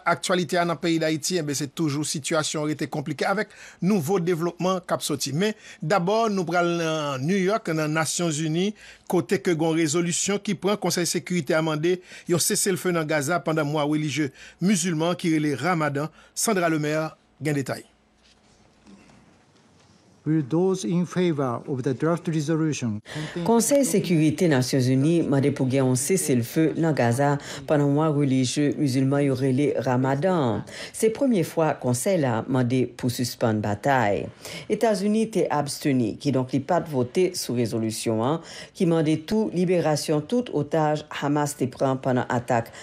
Aktyalite a nan peyi Dayiti enben se toujou sitiyasyon an rete konplike avèk nouvo devlopman k ap soti. Men, dabò nou pral nan New York nan Nasyon Zini kote ke gon rezolisyon ki pran Konsèy Sekirite a mande yon seselfe nan Gaza pandan mwa relijye mizilman an ki rele Ramadan. Sandra Lemaire gen detay. Konsèy Sekirite Nasyonzini mande pou gen yon seselfe nan Gaza pandan mwa relijye mizilman yo rele Ramadan an. Se premye fwa konsèy la mande pou sispann batay. Etazini te absteni, kidonk li pat vote sou rezolisyon an ki mande tou liberasyon tout otaj Hamas te pran pandan atak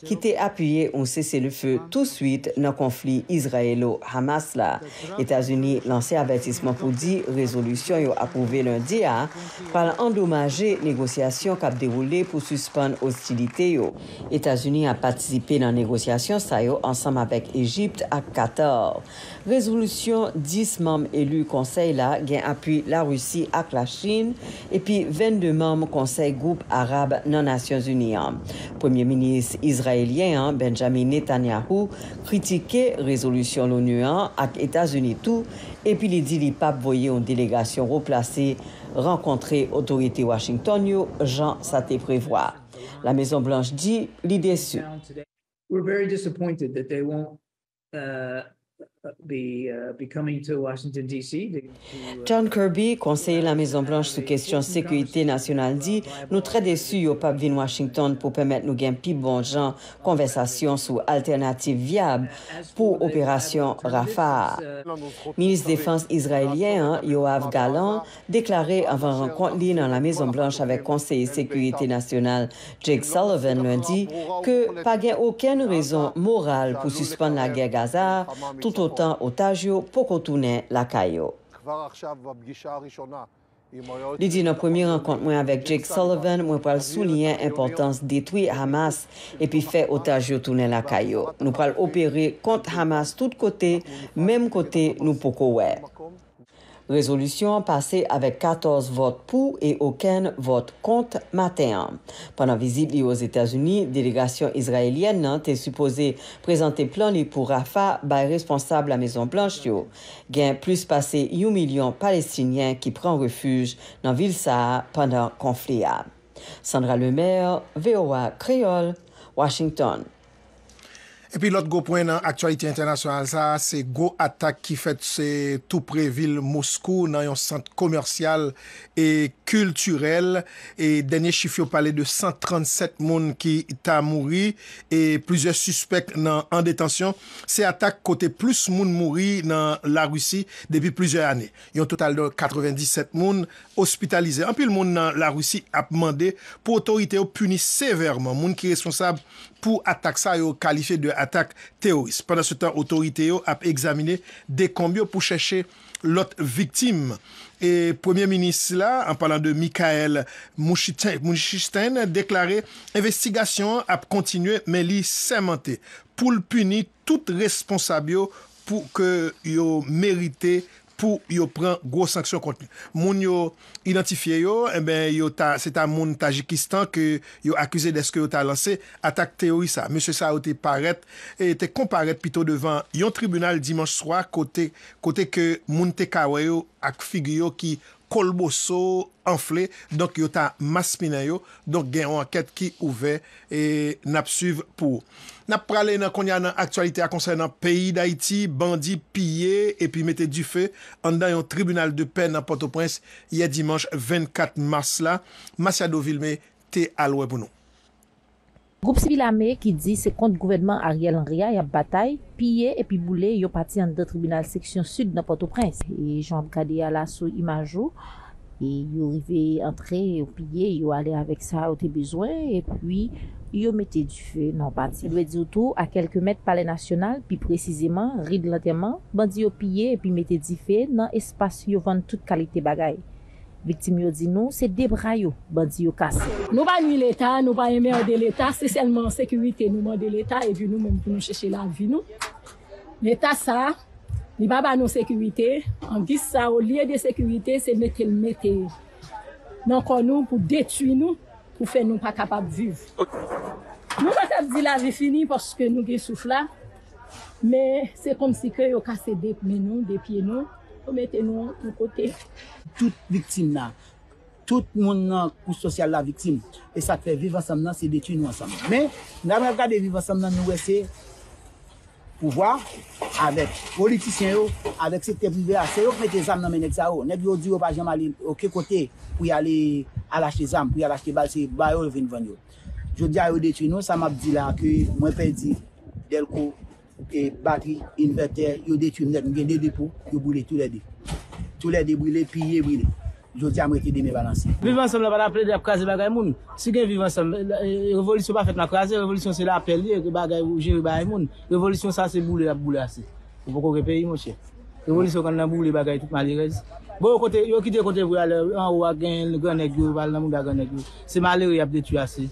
ki te apiye yon seselefe touswit nan konfli Izrayelo-Hamas la. Etazini lanse avètisman pou di rezolisyon yo apwouve lendi a pral andomaje negosyasyon k ap dewoule pou sispann ostilite yo. Etazini ap patisipe nan negosyasyon sa yo ansanm avèk Ejipt ak Katar. Rezolisyon 10 manm eli konsèy la gen apui Larisi ak Lachin epi 22 manm Konsèy Gwoup Arab nan Nasyonzini an. Premye Minis Izrayelyen an, Benjamin Netanyahu, kritike rezolisyon l'ONU an ak Etazini tou epi li di li pap voye yon delegasyon wo plase rankontre otorite Washington yo jan sa te prevwa. La Mezon Blanch di li desu. John Kirby, konseye Lamezon Blanch sou kesyon sekirite nasyonal di nou trè desu yo pap vin Washington pou pèmèt nou gen pi bon jan konvèsasyon sou altènativ vyab pou operasyon Rafah a. Minis defans Izrayelyen an, Yoav Gallant, deklare anvan rankont li nan La Mezon Blanch avèk Konseye Sekirite Nasyonal Jake Sullivan Lendi ke pa gen okenn rezon moral pou sispann lagè Gaza a toutotan otaj yo poko tounen lakay yo. Li di nan premye rankont mwen avèk Jake Sullivan mwen pral souliyen enpòtans detwi Hamas epi fè otaj yo tounen lakay yo. Nou pral opere kont Hamas tout kote, menm kote nou poko wè. Rezolisyon an pase avèk 14 vòt pou e okenn vòt kont maten an. Pandan vizit li Ozetazini, delegasyon izrayelyèn nan te sipoze prezante plan li pou Rafah bay responsab La Mezon Blanch yo. Gen plis pase yon milyon Palestinyen ki pran refij nan vil sa a pandan konfli a. Sandra Lemaire, voa Kreyòl, Washington. Epi lòt gwo pwen nan aktyalite entènasyonal sa a se gwo atak ki fèt tou pre vil Moskou nan yon sant komèsyal e kiltirèl e dènye chif yo pale de 137 moun ki ta mouri e plizyè sispèk nan an detansyon. Se atak kote plis moun mouri nan Larisi depi plizyè ane. Yon total de 97 moun ospitalize. Anpil moun nan Larisi ap mande pou otorite yo pini sevèman moun ki responsab pou atak sa yo kalifye de atak teworis. Pandansetan otorite yo ap egzamine dekonb yo pou chèche lòt viktim. E Premye Minis la, an palan de Mikhail Mushustin, deklare envestigasyon an ap kontinye men li sèmante pou l pini tout responsab yo pou ke yo merite pou yo pran gwo sanksyon kont li. Moun yo idantifye yo, enben yo ta se ta moun Tajikistan ke yo akize dèske yo ta lanse atak teyoris sa. Mesye sa yo te parèt e te konparèt pito devan yon tribinal dimanch swa kote kote ke moun te ka wè yo ak figi yo ki kolboso anfle donk yo ta maspinen yo donk gen yon ankèt ki ouvè e nap swiv pou ou nap prale nan kounye a nan aktyalite a konsènan peyi dayiti bandi piye epi mete dife anndan yon tribinal de pè nan pòtoprens yè dimanch 24 mas la Masiado Vilme te al wè pou nou. Gwoup sibil ame ki di se kont gouvènman Ariel Henry a y ap batay, piye epi boule yon pati anndan tribinal seksyon sid nan Pòtoprens. E jan w ap gade a la sou imaj ou, e yo rive antre, yo piye, yo ale avèk sa yo te bezwen, epi yo mete dife nan yon pati. Dwe di w tou, a kèlke mèt Palè Nasyonal, pi presizeman, Ri de Lantèman, bandi yo piye epi mete dife nan espas yo vann tout kalite bagay. Viktim yo di nou se 2 bra yo bandi yo kase. Nou pa nwi leta, nou pa enmerde leta, se sèlman sekirite nou mande leta epi nou menm pou nou chèche lavi nou. Leta sa, li pa ba nou sekirite, an gis sa olye de sekirite se mete l mete nan kò nou pou detui nou, pou fè nou pa kapab viv. Nou pa kab di lavi fini paske nou gen souf la, men se kòmsi ke yo kase 2 men nou, 2 pye nou. Yo mete nou yon kote. Tout viktim la. Tout moun nan kouch sosyal la viktim. E sa k fè viv ansanm nan se detwi nou ansanm. Men, lè n ap gade viv ansanm nan nou wè se pouvwa avèk politisyen yo, avèk sektè prive a, se yo k mete zam nan men nèg sa yo. Nèg yo di yo pa janm ale oken kote pou y ale al achte zam, pou y al achte bal, se ba yo yo vin vann yo. Jodi a yo detwi nou, sa m ap di la ke mwen pèdi Dèlko. Batri, invètè, yo detwi nèt. M gen 2 depo, yo boule tou lè 2. Tou lè 2 brile, piye, brile. Jodi a m rete demen balanse. Viv ansanm la pa nan plede ap kraze bagay moun. Si gen viv ansanm, revolisyon pa fèt nan kraze, revolisyon se lapè li ye, bagay ou jere bay moun. Revolisyon sa se boule l ap boule ase. Ou poko gen peyi monchè. Revolisyon konn nan boule bagay tout malerèz. Bon yo kote yo kite kote vre a lè anwo a gen gran nèg yo pral nan mouda gran nèg yo. Se malere yap detwi ase.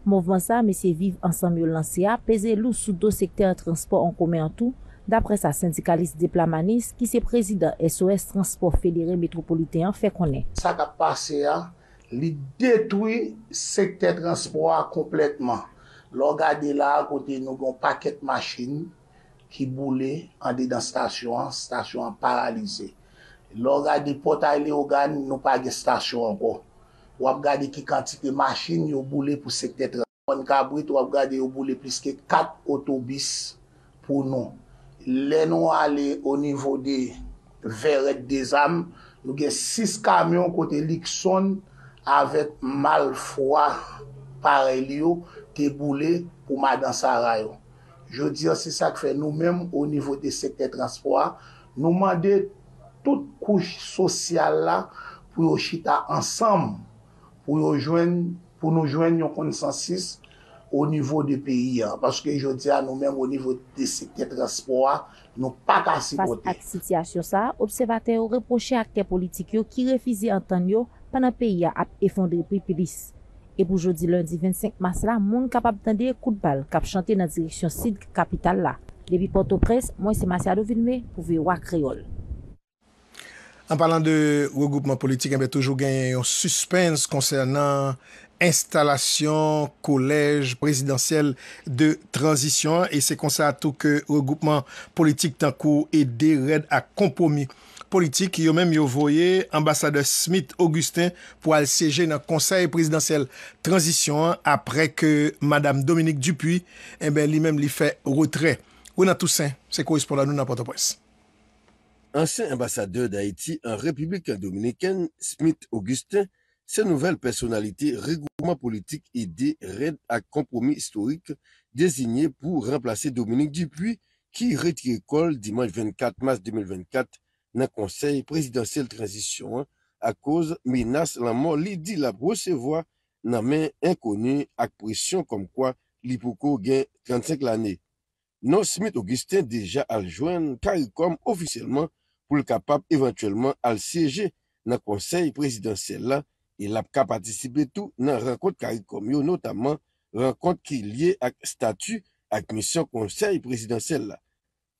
Mouvman sa mesye Viv Ansanm yo lanse a peze lou sou do sektè transpò an komen an tou, daprè sa sendikalis Deplamanis ki se prezidan SOS Transpò Federe Metwopoliten an fè konnen. Sa k ap pase a, li detwi sektè transpò a konplètman. Lè w gade la a kote nou gen yon pakèt machin, ki boule andedan stasyon an, stasyon an paralize. Lè w gade Pòtay Leyogàn, nou pa gen stasyon ankò. W ap gade ki kantite machin yo boule pou sektè Transpònt Kabrit, w ap gade yo boule plis ke 4 otobis pou nou. Lè nou ale o nivo de Vèrèt Dezam, nou gen 6 kamyon kote Liksonn avèk malfwa parèy li yo te boule pou Madan Sara yo. Jodi an se sa k fè nou menm o nivo de sektè transpò a nou mande tout kouch sosyal la pou yo chita ansanm pou yo jwenn pou nou jwenn yon konsansis o nivo de peyi an paske jodi a nou menm o nivo de sektè transpò a nou pa ka Fas sipote. ak sitiyasyon sa, obsèvatè yo repwoche aktè politik yo ki refize antann yo pandan peyi a ap efondre pi plis. E pou jodi lendi 25 mas la moun kapab tande kout bal kap chante nan direksyon sid kapital la. Depi Pòtoprens, mwen se Masiado Vilmé pou voa Kreyòl. An palan de regwoupman politik enben toujou genyen yon sispens konsènan enstalasyon kolèj prezidansyèl de tranzisyon an e se konsa tou ke regwoupman politik tankou Ede, Rèd ak Konpwomi Politik yo menm yo voye anbasadè Smith Augustin pou al syeje nan konsèy prezidansyèl tranzisyon an aprè ke madam Dominique Dupuy enben li menm li fè retrè. Ronald Toussaint se korespondan nou nan Pòtoprens. Ansyen anbasadè Dayiti an Repiblik Dominikèn, Smith Augustin, se nouvèl pèsonalite regwoupman politik ede rèd ak Konpwomi Istorik dezinye pou ranplase Dominique Dupuy ki retire kò l dimanch 24 mas 2024 nan Konsèy Prezidansyèl Tranzisyon an akoz menas lanmò li di l ap resevwa nan men enkoni ak presyon kòmkwa li poko gen 35 lane. non Smith Augustin deja al jwenn caricom ofisyèlman pou l kapab evantyèlman al syeje nan konsèy prezidansyèl la e l ap ka patisipe tou nan rankont caricom yo notaman rankont ki lye ak stati ak misyon konsèy prezidansyèl la.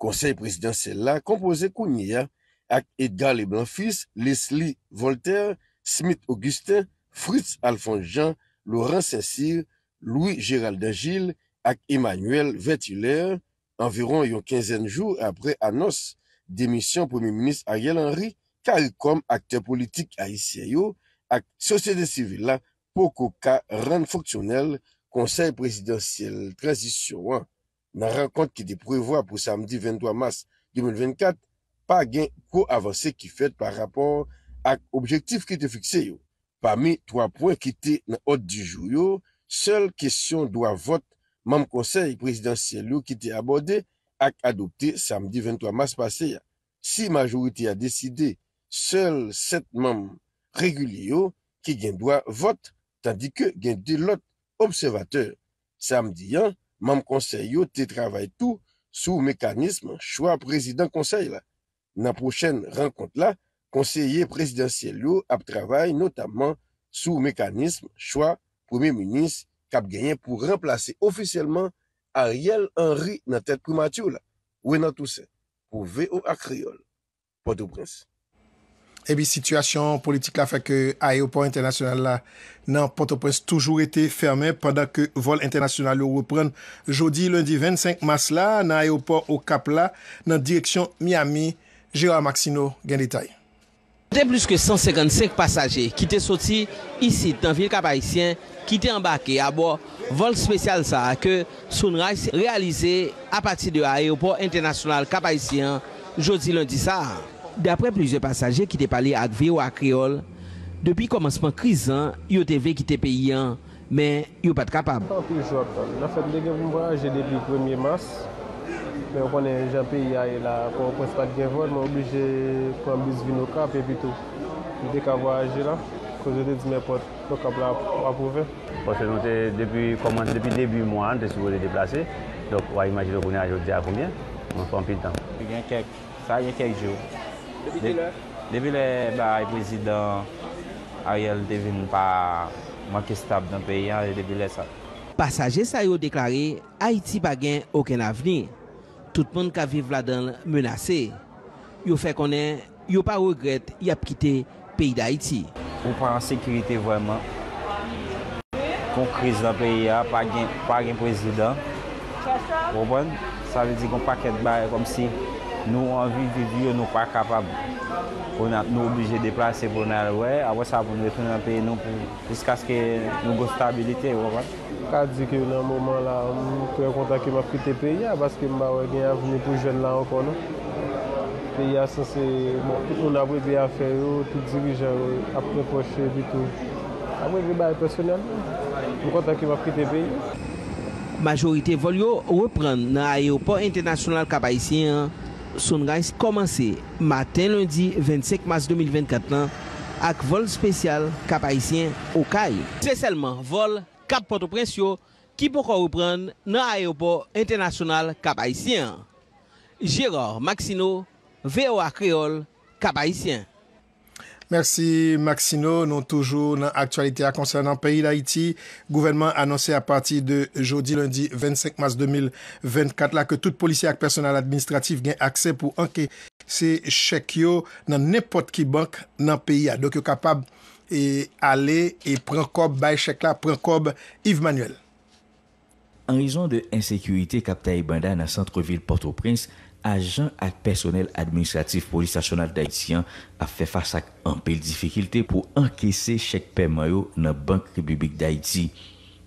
Konsèy prezidansyèl la konpoze kounye a ak Edgar Leblanc Fils, Leslie Voltaire, Smith Augustin, Fritz Alphonse Jean, Laurent Saint-Cyr, Louis Gérald Dangil ak Emmanuel Vertilaire anviwon yon kenzèn jou aprè anons demisyon Premye Minis Ariel Henry, caricom aktè politik ayisyen yo ak sosyete sivil la poko ka rann fonksyonèl Konsèy Prezidansyèl Tranzisyon an. Nan rankont ki te prevwa pou samdi 23 mas 2024, pa gen gwo avanse ki fèt pa rapò ak objektif ki te fikse yo. Pami 3 pwen ki te nan òd di jou yo, sèl kesyon dwa vòt manm konsèy prezidansyèl yo ki te abòde ak adopte samdi 23 mas pase a. Si majorite a deside, sèl 7 manm regilye yo ki gen dwa vòt, tandike gen 2 lòt obsèvatè Samdi an, manm konsèy yo te travay tou sou mekanism chwa prezidan konsèy la. Nan pwochèn rankont la, konseye prezidansyèl yo ap travay notamman sou mekanism chwa premye minis k ap genyen pou ranplase ofisyèlman Ariel Henry nan tèt primati la. Renan Toussaint, pou voa Kreyòl. Pòtoprens. Epi sitiyasyon politik la fè ke ayewopò entènasyonal la nan Pòtoprens toujou rete fèmen pandan ke vòl entènasyonal yo reprann jodi lendi 25 mas la nan ayewopò Okap la nan direksyon Miami. Gérard Maxineau gen detay. Te plis ke 155 pasaje ki te soti isit nan vil Kap-Ayisyen ki te anbake abò vòl spesyal sa a ke Sunrise reyalize apati de ayewopò entènasyonal Kap Ayisyen an jodi lendi sa a. Daprè plizyè pasaje ki te pale ak voa Kreyòl, depi kòmansman kriz lan yo te vle kite peyi an men yo pat kapab. Anfèt m te gen pou m vwayaje depi premye mas men ou konnen jan peyi a ye la a pòtoprens pat gen vòl mwen oblije pran bis vin okap epitou m te ka vwayaje la koz yo te di nenpòt Fok kap la aprouve. Paske nou te depi kòmanse depi debi mwa a nou te sipoze deplase donk wa imajine kounya jodi a konbyen mwen fè anpil tan. Li gen kèk sa gen kèk jou. Depi kilè? Depi lè bagay prezidan Ariel te vin pa manke stab nan peyi a e depi lè sa. Pasaje sa yo deklare Ayiti pa gen okenn avni, tout moun kap viv ladan l menase. Yo fè konnen Yo pa regrèt yap kite peyi dayiti. Ou pa an sekirite vreman. Gon kriz lan peyi a pa gen pa gen prezidan ou konprann sa vle di gon pakèt bagay kòmsi nou anvi viv yo nou pa kapab kounye a nou oblije deplase pou nou al wè apre sa pou nou retounen nan peyi nou pou jiskaske nou gon stabilite ou konprann. Ka di ke nan moman la m trè kontan ke m ap kite peyi a paske m pa wè gen avni pou jèn la ankò non. Peyi a sanse bon tout moun ap regle afè yo, tout dirijan yo ap repwoche epitou ap regle bagay pèsonèlman. M kontan ke m ap kite peyi a. Majorite vòl yo reprann nan ayewopò entènasyonal Kap Ayisyen an. Sunrise kòmanse maten lendi 25 mas 2024 lan ak vòl spesyal Kap Ayisyen, Okay. Se sèlman vòl Kap Pòtoprens yo ki poko reprann nan ayewopò entènasyonal Kap Ayisyen an. Gérard Maxineau, voa Kreyòl, Kap Ayisyen. Mèsi Maxino, nou toujou nan aktyalite a konsènan peyi Dayiti, gouvènman anonse apati de jodi lendi 25 mas 2024 la ke tout polisye ak pèsonèl administratif gen aksè pou ankese chèk yo nan nenpòt ki bank nan peyi a, donk yo kapab ale e pran kòb, bay chèk la, pran kòb, Yves Manuel. An rezon de ensekirite k ap taye banda nan santre vil Pòtoprens, ajan ak pèsonèl administratif Polis Nasyonal Dayiti an ap fè fas ak anpil difikilte pou ankese chèk pèman yo nan bank Repiblik Dayiti.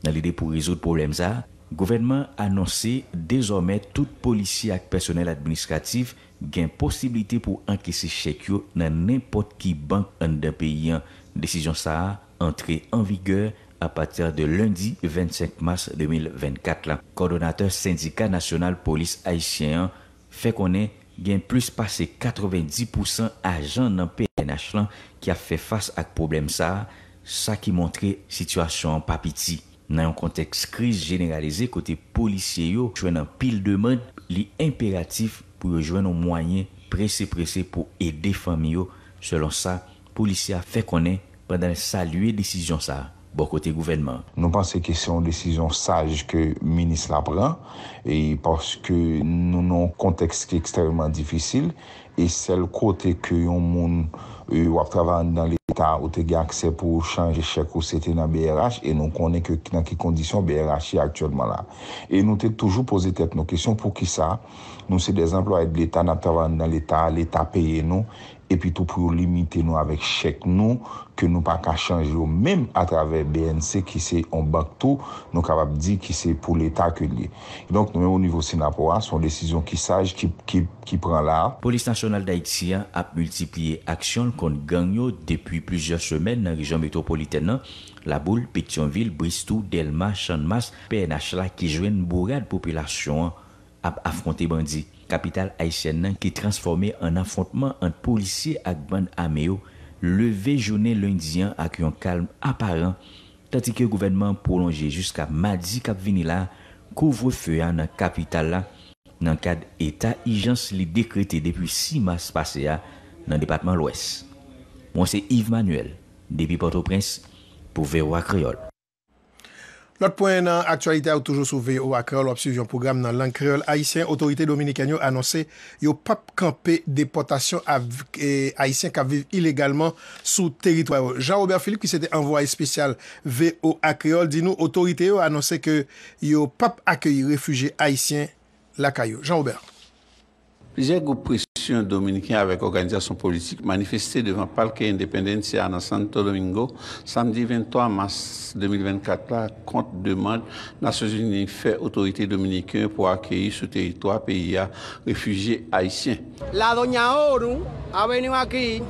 Nan lide pou rezoud pwoblèm sa, gouvènman an anonse dezòmè tout polisye ak pèsonèl administratif gen posiblite pou ankese chèk yo nan nenpòt ki bank anndan peyi an. Desizyon sa a antre an vigè apati de lendi 25 mas 2024 la. Kòdonatè Sendika Nasyonal Polis Ayisyen an fè konnen gen plis pase 90 pousan ajan nan pnh lan ki ap fè fas ak pwoblèm sa a, sa ki montre sitiyasyon an pa piti. Nan yon kontèks kriz jeneralize kote polisye yo jwenn anpil demand, li enperatif pou yo jwenn yon mwayen prese prese pou ede fanmi yo, selon sa polisye a fè konnen. pandan l salye desizyon sa bò kote gouvènman. Nou panse ke se yon desizyon saj ke minis la pran e paske nou nan yon kontèks ki ekstrèmeman difisil e sèl kote ke yon moun w ap travay anndan leta ou te gen aksè pou w chanje chèk ou se te nan brh e nou konnen ke nan ki kondisyon brh ye aktyèlman la e nou te toujou poze tèt nou kesyon poukisa nou se dè anplwaye de leta n ap travay anndan leta leta peye nou epi tou pou yo limite nou avèk chèk nou ke nou pa ka chanje yo menm atravè bnc ki se yon bank tou nou kapab di ki se pou leta ke l ye. Kidonk nou menm o nivo Synapoh a, se yon desizyon ki saj ki pran la a. Polis Nasyonal Dayiti a ap miltipliye aksyon l kont gang yo depi plizyè semèn nan rejyon metwopolitèn nan, Laboul, Petyonvil, Bristou, Dèlma, Channmas, pnh la ki jwenn bourad popilasyon an ap afwonte bandi. Kapital ayisyèn nan ki transfòme an afwontman ant polisye ak bann ame yo leve jounen lendi an ak yon kalm aparan, tandike gouvènman an pwolonje jiska madi k ap vini la kouvrefe a nan kapital la nan kad eta ijans li dekrete depi 6 mas pase a nan depatman Lwès. Mwen se Yves Manuel depi Pòtoprens pou voa Kreyòl. Lòt pwen nan aktyalite a yo toujou sou voa Kreyòl w ap swiv yon pwogram nan lang kreyòl ayisyen otorite dominikèn yo anonse yo p ap kanpe depòtasyon avk ayisyen k ap viv ilegalman sou teritwa yo Jean Robert Philippe ki se te anvwaye espesyal voa Kreyòl di nou otorite yo anonse ke yo p ap akeyi refije ayisyen lakay yo Jean Robert. Plizyè gwoup presyon dominiken avèk òganizasyon politik manifeste devan Palke Independencia nan Santo Domingo samdi 23 mas 2024 la kont demand Nasyonzini fè otorite dominiken pou akeyi sou teritwa peyi a refijye ayisyen. La Doña Oru Avenue Aquí.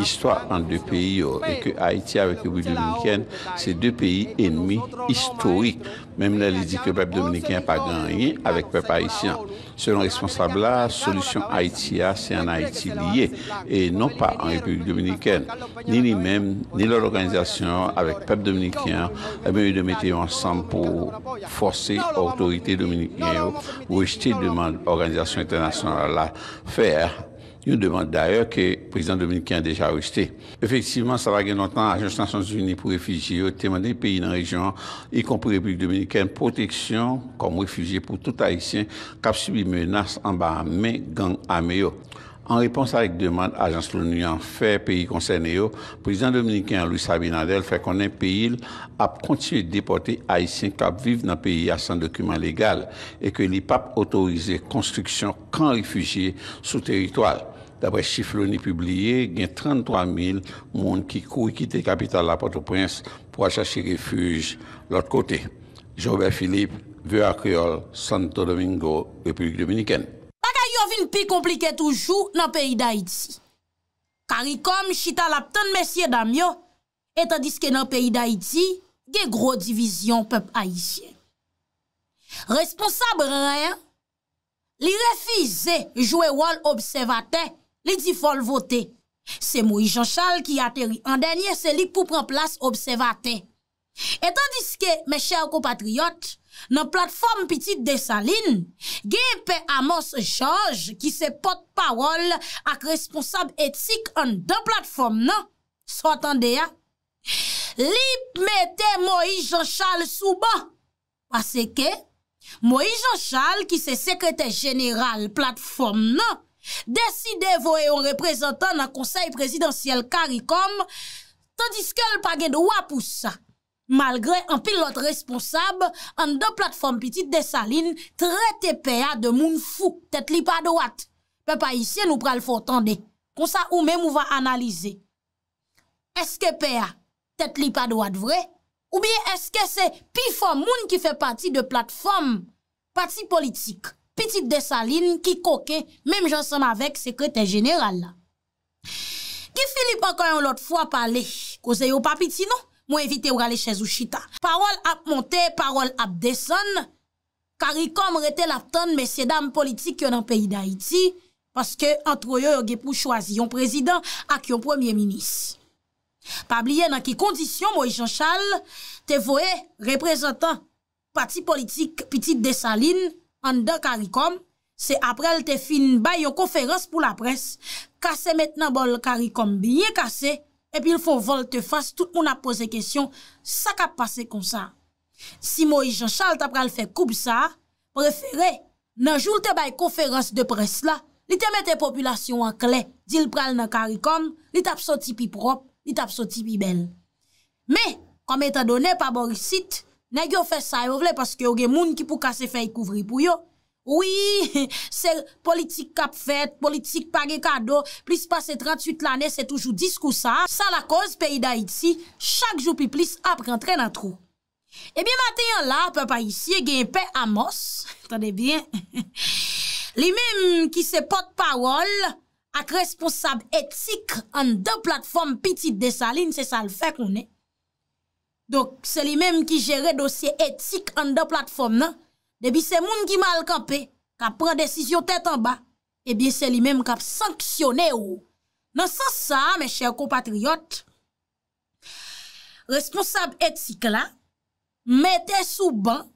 istwa ant 2 peyi yo e ke Ayiti avèk Repiblik Dominikèn se 2 peyi enmi istorik, menm lè li di ke pèp dominiken an pa gen anyen avèk pèp ayisyen an. Selon responsab la, solisyon Ayiti a se an Ayiti li ye e non pa an Repiblik Dominikèn. Ni li menm, ni lòt òganizasyon yo avèk pèp dominiken an, enben yo dwe mete yo ansanm pou fòse otorite dominiken yo rejte demand òganizasyon entènasyonal la fè a, yon demand dayè ke prezidan dominiken an deja rejte. Efektivman, sa pa gen lontan, Ajans Nasyonzini pou Refijye yo te mande peyi nan rejyon an, ikonpri Repiblik Dominikèn, pwoteksyon kòm refijye pou tout Ayisyen k ap sibi menas anba men gang ame yo. An repons ak demand ajans l'ONU an fè peyi konsène yo, prezidan dominiken an Luis Abinader fè konnen peyi l ap kontinye depòte Ayisyen k ap viv nan peyi a san dokiman legal e ke li p ap otorize konstriksyon kan refijye sou teritwa l. Daprè chif Loni pibliye, gen 33 mil moun ki kouri kite kapital la, Pòtoprens, pou al chache refij lòt kote. Jean-Robert Philippe, voa Kreyòl, Santo Domingo, Repiblik Dominikèn. Bagay yo vin pi konplike toujou nan peyi Dayiti. Karikòm chita l ap tann mesyedam yo, e tandiske nan peyi Dayiti gen gwo divizyon pèp ayisyen. Responsab ren. Li refize jwe wòl obsèvatè, li di fò l vote. Se Moyiz Janchal ki ateri an dènye, se li k pou pran plas obsèvatè. E tandiske, mè chè konpatriyòt, nan platfòm pitit Desalin, genyen pè Amòs Jòj ki se pòt pawòl ak responsab etik anndan platfòm nan, sa w tande a? Li mete Moyiz Janchal sou ban! Paseke, Moyiz Jan Chal ki se sekretè jeneral platfòm nan, deside voye yon reprezantan nan konsèy prezidansyèl caricom, tandiske l pa gen dwa pou sa. Malgre anpil lòt responsab anndan platfòm pitit Desalin trete pè a de moun fou, tèt li pa dwat. Pèp ayisyen nou pral fè w tande. Konsa ou menm ou va analize. Eske pè a. tèt li pa dwat vre? Oubyen èske se pifò moun ki fè pati de platfòm pati politik Pitit Desalin ki koken menm jan ansanm avèk Sekretè Jeneral la? Guy Philippe ankò yon lòt fwa pale, koze yo pa piti non, mwen envite w rale chèz ou chita. Pawòl ap monte, pawòl ap desann, Karikòm rete l ap tann mesyedam politik yo nan peyi Dayiti, paske antre yo yo gen pou chwazi yon prezidan ak yon premye minis. Pa bliye nan ki kondisyon Moyiz Janchal te voye reprezantan pati politik Pitit Desalin anndan Karikòm, se apre l te fin bay yon konferans pou laprès, kase met nan bòl Karikòm byen kase, epi l fon vòlte fas tout moun ap poze kesyon sa k ap pase konsa? Si Moïse Jean Charles ta pral fè koub sa, prefere, nan jou l te bay konferans de près la, li te mete popilasyon an klè, di l pral nan Karikòm, li t ap soti pi pwòp, li t ap soti pi bèl. Men, kòm etan done pa bò isit, nèg yo fè sa yo vle paske yo gen moun ki pou kase fèy kouvri pou yo, Wi, se politik k ap fèt, politik pa gen kado, plis pase 38 lane se toujou diskou sa, sa lakoz peyi Dayiti chak jou pi plis ap rantre nan twou. Ebyen maten an la, pèp ayisyen gen Pè Amòs, tande byen, li menm ki se pòt pawòl ak responsab etik anndan platfòm Pitit Desalin, se sa l fè konnen, Donk, se li menm ki jere dosye etik anndan platfòm nan, depi se moun ki mal kanpe, k ap pran desizyon tèt anba, ebyen se li menm k ap sanksyone ou. Nan sans sa, mes chers compatriotes, responsab etik la mete sou ban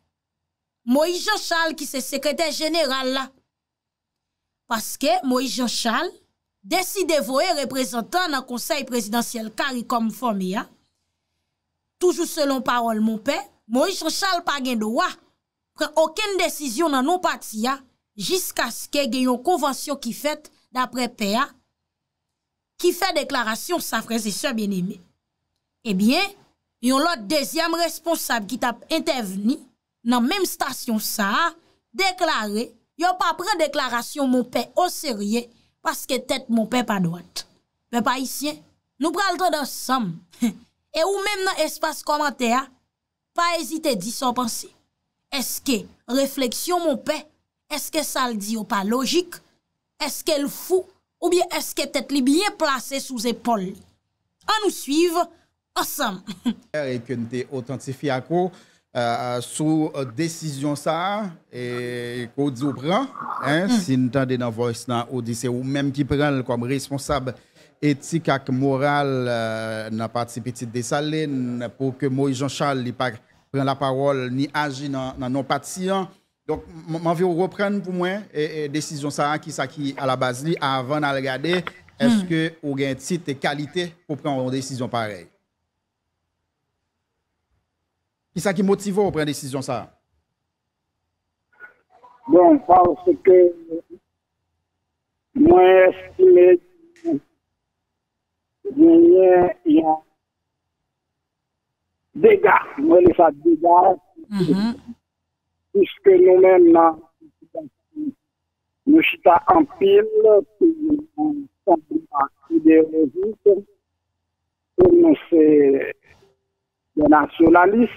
Moïse Jean Charles ki se sekretè jeneral la. Paske Moïse Jean Charles deside voye reprezantan nan konsèy prezidansyèl caricom fòme a, toujou selon pawòl monpè, Moïse Jean Charles pa gen dwa pran okenn desizyon nan non pati a jiskaske gen yon konvansyon ki fèt daprè pè a ki fè deklarasyon sa frè e sè byeneme. Ebyen yon lòt dezyèm responsab ki tap entèvni. nan menm stasyon sa a, deklare yo pa pran deklarasyon Monpè oserye paske tèt Monpè pa dwat. Pèp Ayisyen, nou pral tande ansanm, e ou menm nan espas kòmantè a, pa ezite di sa w panse. Èske refleksyon Monpè Eske sa l di yo pa lojik? Eske l fou? Oubyen eske tèt li byen plase sou zepòl li? An nou suiv ansanm! e ke n te otantifye ak ou sou desizyon sa a e ke w di w pran, si n tande nan voice la ou di se ou menm ki pran l kòm responsab etik ak moral nan pati Pitit Desalin pou ke Moyiz Janchal li pa pran lapawòl ni aji nan non pati an. Donk m anvi w reprann pou mwen desizyon sa a, kisa ki alabaz li avan n al gade èske ou gen tit e kalite pou pran yon desizyon parèy. Kisa ki motive w pran desizyon sa a? Bon, paske mwen estime ke genyen yon dega, mwen rele sa dega, Piske nou menm nan Ayiti, nou chita anpil sou yon santiman ideyolojik ke nou se de nasyonalis,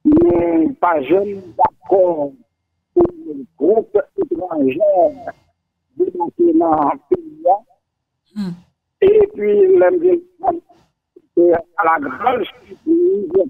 nou pa janm dakò pou yon gwoup etranjè debake nan peyi a. Epi lè m vin konprann ke a la gran sipriz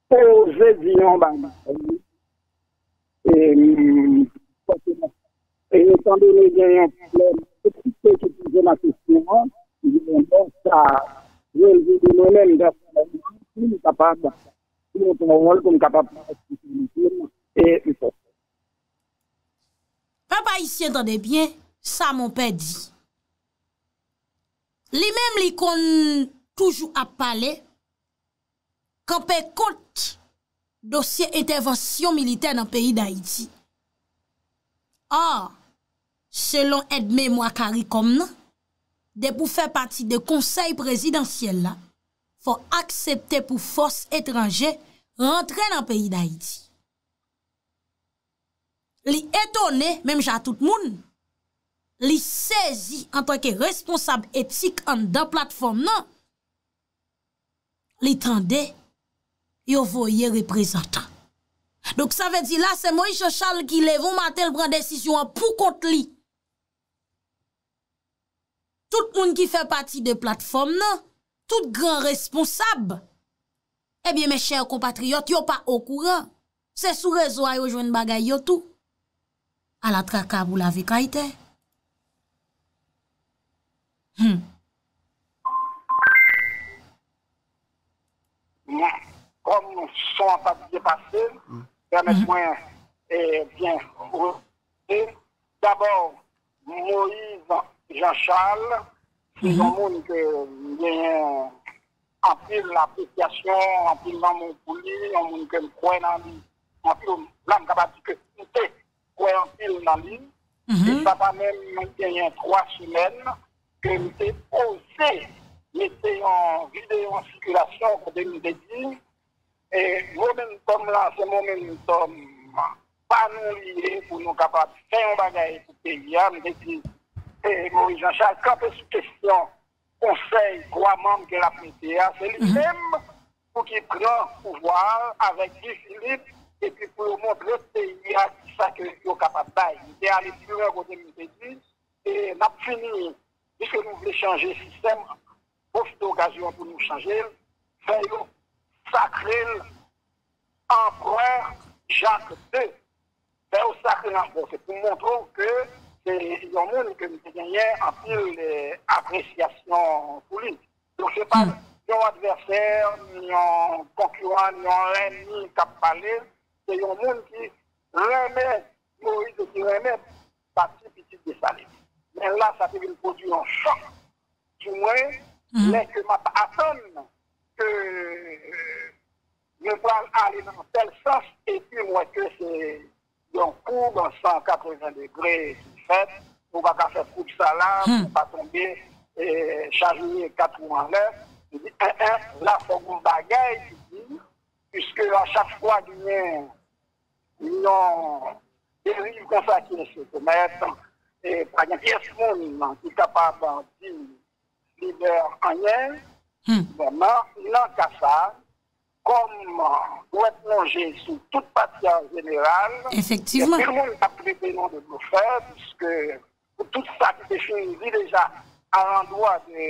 Ou oze di yon bagay wi. E etan done gen yon pwoblèm etrikte ki poze nan kesyon an, gen yon lè sa relve de mwen menm pèsonèlman si m kapab di yon pawòl pou m kapab pran responsablite m e m fè sa. Pèp ayisyen tande byen sa monpè di. Li menm li konn toujou ap pale kanpe kont dosye entèvansyon militè nan peyi Dayiti. Or, selon èd memwa Caricom nan, depi w fè pati de konsèy prezidansyèl la, fò w aksepte pou fòs etranje rantre nan peyi Dayiti. Li etone, menm jan a tout moun, li sezi antanke responsab etik anndan platfòm nan, li tande yo voye reprezantan. Donk sa vle di la se Moïse Jean Charles ki leve yon maten li pran desizyon an pou kont li. Tout moun ki fè pati de platfòm nan, tout gran responsab, ebyen mè chè konpatriyòt yo pa okouran. Se sou rezo a yo jwenn bagay yo tou. A la traka pou lave kay tè. Hum. Kòm son an pat byen pase, pèmèt mwen byen. Dabò, Moïse Jean Charles se yon moun ke m genyen anpil apresyasyon, anpil lanmou pou li, yon moun ke m kwè nan li anpil, la m kapab di ke m te kwè anpil nan li, e sa pa menm genyen 3 semèn ke m te oze mete yon videyo an sikilasyon kote m te di E momentum la se momentum pa nou li ye pou nou kapab fè yon bagay pou peyi a. M te di Moris Janchal kanpe sou kesyon konsèy 3 manm ke l ap mete a. Se li menm pou ki pran pouvwa a avèk Guy Philippe epi pou yo montre peyi a ki sa ke yo kapab bay. M te ale pi lwen kote m te di n ap fini piske nou vle chanje sistèm Pwofite okazyon an pou nou chanje l, fè yo sakre l anprè Jak ii. Fè yo sakre l anprè se pou montre w ke se yon moun ke m te genyen anpil apresyasyon pou li. Donk se pa yon advèsè, ni yon konkiran, ni yon lènmi k ap pale. Se yon moun ki renmen Moïse e ki renmen pati pitit Desalin. Men la sa te vin pwodui yon chòk. Pou mwen, lè ke map atann ke nou pral ale nan yon tèl sans epi m wè ke se yon koub 180 degre ki fèt, ou pa ka fè koub sa la pou w pa tonbe chavire 4 wou anlè, m di en en la fòk gon bagay ki di, puiske a chak fwa genyen. Yon deriv konsa ki enso komèt, e pa gen pyès moun ki kapab di lidè anyen. Bon, nan ka sa, kòm dwèt lonje sou tout pati an jeneral, gen anpil moun k ap trete nou de blofè, piske pou tout sa ki te fin di deja alandwa de